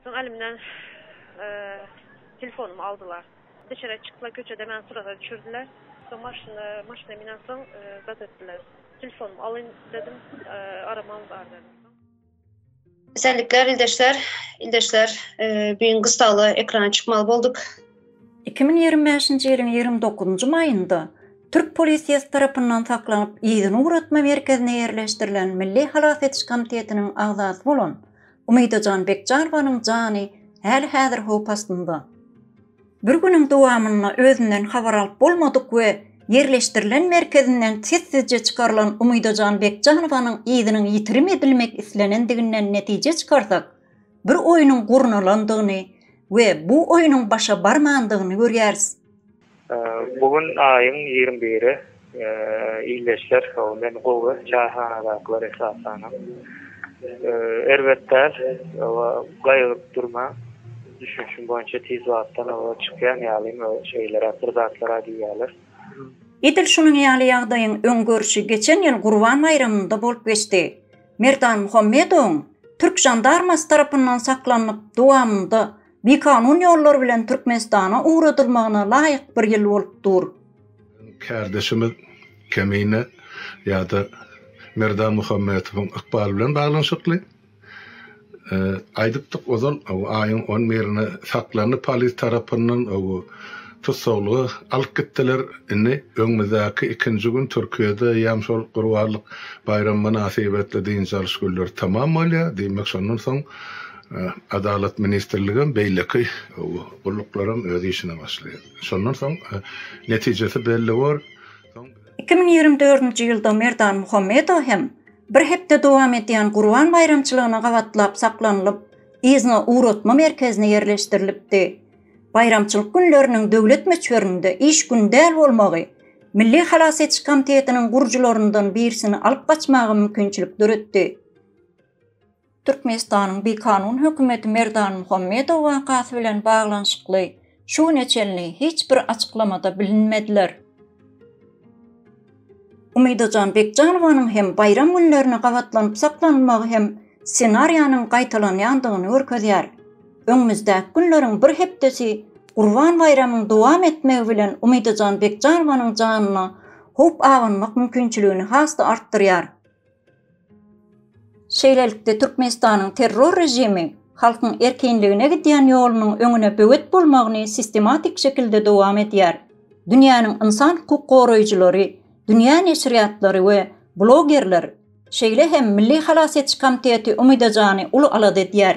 Soň elimden telefonumy aldylar. Deşere çykla köçede meni suraga düşürdiler. Soň maşyna, maşyna minensoň zat etdiler. Telefonumy alyň dedim, aramam bar dedim. Esenlikler ildeşler. Ildeşler, e, bu gün gyssagly ekrana çykmaly bolduk. 2025-nji ýylyň 29-njy maýynda türk polisiýasy tarapyndan saklanyp, yzyny ugratma merkezine ýerleşdirilen Milli halas ediş komitetiniň agzasy bolan Umydajan Bekjanowanyň jany häli-häzir howp astynda. Bir günüň dowamynda özünden habar alyp bolmadyk we ýerleşdirilen merkezinden sessizje çykarylan Umydajan Bekjanowanyň yzynyň ýitirim edilmek islenendiginden netije çykarsak, bir oýnuň gurnalandygyny we bu oýnuň başa barmandygyny görýäris. Bu gün aýyň ýigrimi biri. Ildeşler soň men gowy çaýhanadakylar esasanam erbet däl we gaýgyryp durmaň düşünişim boýunça tiz wagtdan oba çykýan ýalym we şeýleräk bir zatlar aýdýalar. Edil şunuň ýaly ýagdaýyň öň görşi geçen ýyl Gurban baýramynda bolup geçdi. Merdan Muhammedowyň türk žandarmasy tarapyndan saklanyp dowamynda bikanun ýollar bilen Türkmenistana ugradylmagyna laýyk bir ýyl bolup dur. Kärdeşimiz Kemine ýa-da Merdan Muhammedowyň ykbaly bilen baglanyşykly. Aýdypdyk ozal, aýyň on birine saklandy polis tarapyndan, tussaglyga alyp gitdiler. Indi öňümizdäki ikinji gün Türkiýede ýam şol Gurbanlyk baýramy mynasybetli dynç alyş günleri tamam bolýar. Diýmek, şondan soň Adalat ministrligem, beýleki gulluklaram öz işine başlaýar. Şondan soň netijesi belli bor. Iki müň ýigrimi dördünji ýylda Merdan Muhammedow hem bir hepde dowam edýän Gurban baýramçylygyna gabatlap saklanylyp, yzyna ugratma merkezine ýerleşdirilipdi. Baýramçylyk günleriniň döwlet möçberinde iş güni däl bolmagy Milli halas ediş komitetiniň gurujylaryndan birisini alyp gaçmaga mümkinçilik döretdi. Türkmenistanyň bikanun hökümeti Merdan Muhammedow wakasy bilen baglanyşykly şu güne çenli hiç bir açyklamada bilinmediler. Umydajan Bekjanowanyň hem baýram günlerine gabatlanyp saklanylmagy hem ssenariýanyň gaýtalanýandygyny görkezýär. Öňümizdäki günleriň bir hepdesi Gurban baýramyň dowam etmegi bilen Umydajan Bekjanowanyň janyna howp abanmak mümkinçiligini has-da artdyrýar. Şeýlelikde, Türkmenistanyň terror režimi halkyň erkinligine gidýän ýolunyň öňüne böwet bolmagyny sistematik şekilde dowam edýär. Dünýäniň ynsan hukuk goraýjylary, dünýä neşirýatlary we blogerler, şeýle hem Milli halas ediş komiteti Umyda Jany uly alada edýär.